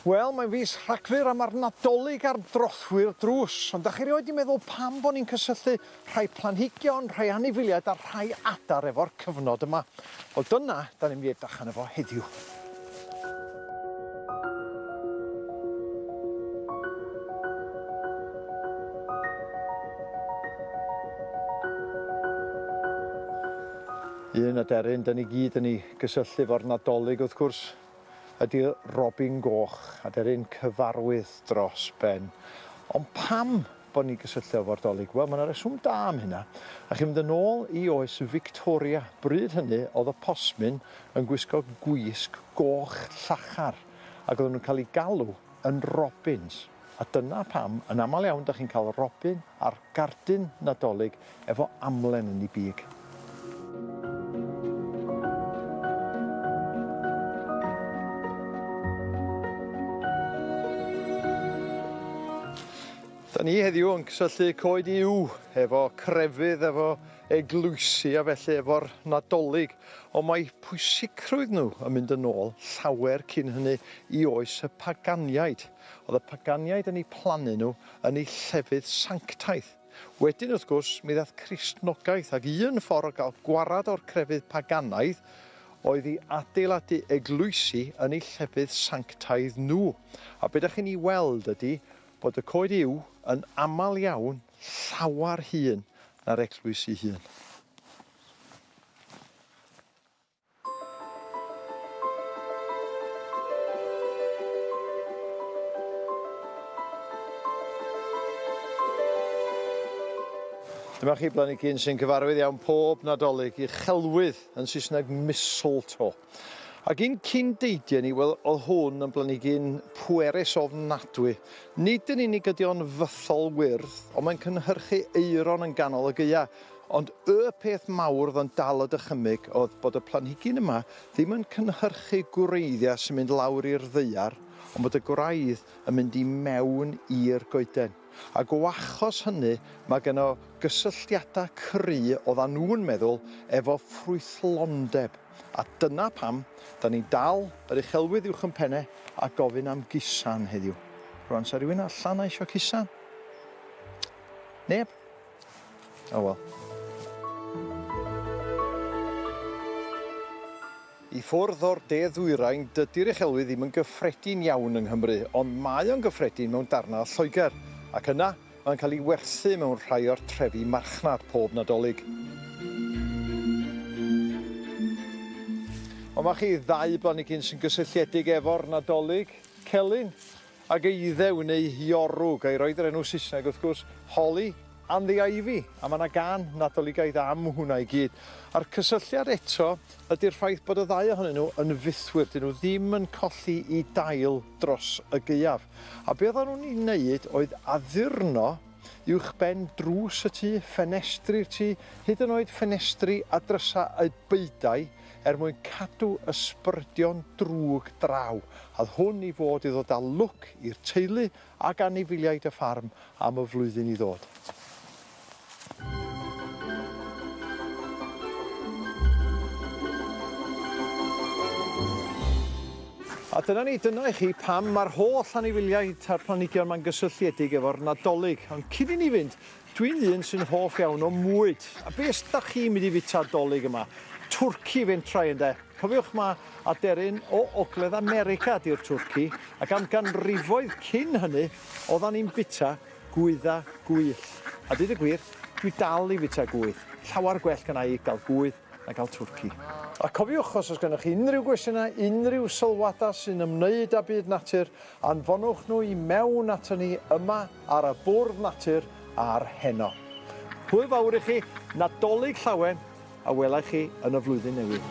Wel, mae'n fis Rhagfyr a mae'r Nadolig ar drothwy'r drws, ond da chi rioed wedi meddwl pam bod ni'n cysylltu rhai planhigion, rhai anifiliaid a rhai adar efo'r cyfnod yma? Wel dyna, da ni'n mynd i edrych arno fo heddiw. Un aderyn dyn ni gyd yn ei gysylltu efo'r Nadolig wrth gwrs ydy Robin Goch, aderyn cyfarwydd dros ben. Ond pam bod ni'n cysylltu efo'r 'Dolig'. Wel, mae yna reswm da am hynna. A chi'n mynd yn ôl i oes Fictoria. Bryd hynny, oedd y posmyn yn gwisgo gwisg goch llachar, ac oedden nhw'n cael eu galw yn 'Robins'. A dyna pam, yn aml iawn, dach chi'n cael 'Robin' a'r 'Gardyn Nadolig' Efo amlen yn ei big. Da ni heddiw yn cysylltu coed yw efo crefydd, efo eglwysi a felly efo'r Nadolig, ond mae pwysicrwydd nhw yn mynd yn ôl llawer cyn hynny i oes y paganiaid. Oedd y paganiaid yn eu plannu nhw yn eu llefydd sanctaidd. Wedyn, wrth gwrs, mi ddaeth Cristnogaeth, ac un ffordd o gael gwared o'r crefydd paganaidd oedd i adeiladu eglwysi yn eu llefydd sanctaidd nhw. A be da chi'n ei weld ydy bod y coed yw, yn aml iawn, llawer hŷn na'r eglwys ei hun. Dyma chi blanigyn sy'n cyfarwydd iawn pob Nadolig i chelwydd yn Saesneg mistletoe. Ac un cyn deidiau ni, wel, oedd hwn yn blanigyn pwerus ofnadwy. Nid yn unig ydy o'n fythol wyrdd, ond mae'n cynhyrchu aeron yn ganol y gaeau, Ond y peth mawr oedd yn dal y dychymyg oedd bod y planhigyn yma ddim yn cynhyrchu gwreiddiau sy'n mynd lawr i'r ddaear ond bod y gwraidd yn mynd i mewn i'r goeden. Ac o achos hynny mae geno gysylltiadau cry oeddan nhw'n meddwl efo ffrwythlondeb a dyna pam 'dan ni'n dal yr uchelwydd uwch yn penne a gofyn am gusan heddiw. Rwan 'sa rhywun allan a isio cusan? Neb? Oh well. I ffwrdd o'r de-ddwyrain, dydy'r uchelwydd ddim yn gyffredin iawn yng Nghymru, ond mae o'n gyffredin mewn darnau o Lloegr, ac yna mae'n cael ei werthu mewn rhai o'r trefi marchnad pob Nadolig. Ond mae chi ddau blanigyn sy'n gysylltiedig efo'r Nadolig, Celyn, Ag eiddew yn eu hiorrwg, a'i roed yr enw Saesneg wrth gwrs, Holly and the Ivy, a mae 'na gân Nadoligaidd am hwnna i gyd. A'r cysylltiad eto ydi'r ffaith bod y ddau ohonyn nhw yn fythwyr, 'dyn nhw ddim yn colli i dail dros y gaeaf. A be oeddan nhw'n ei wneud oedd addurno uwchben drws y tŷ, ffenestri'r tŷ, hyd yn oed ffenestri a drysau y beudai, er mwyn cadw ysbrydion drwg draw, âd hwn i fod i ddod â lwc i'r teulu ac anifeiliaid y ffarm am y flwyddyn i ddod. A dyna ni, dyna i chi pam mae'r holl anifeiliaid a'r planhigion 'ma'n gysylltiedig efo'r Nadolig, ond cyn i ni fynd, Dwi'n un sy'n hoff iawn o mwyd, a be os dach chi'n mynd i fita Dolig yma? Twrci fentrau ynde? Cofiwch ma aderyn o Ogledd America di'r Twrci, ac am ganrifoedd cyn hynny oddan ni'n bita gwydda gwyllt. A deud y gwir, dwi dal i fita gwydd. Llawar gwell gynna i gael gwydd na gael Twrci. A cofiwch os oes gennych chi unrhyw gwestiynau, unrhyw sylwadau sy'n ymwneud â byd natur, Anfonwch nhw i mewn aton ni yma ar y bwrdd natur a'r heno. Hwyl fawr i chi, Nadolig Llawen, a wela i chi yn y flwyddyn newydd.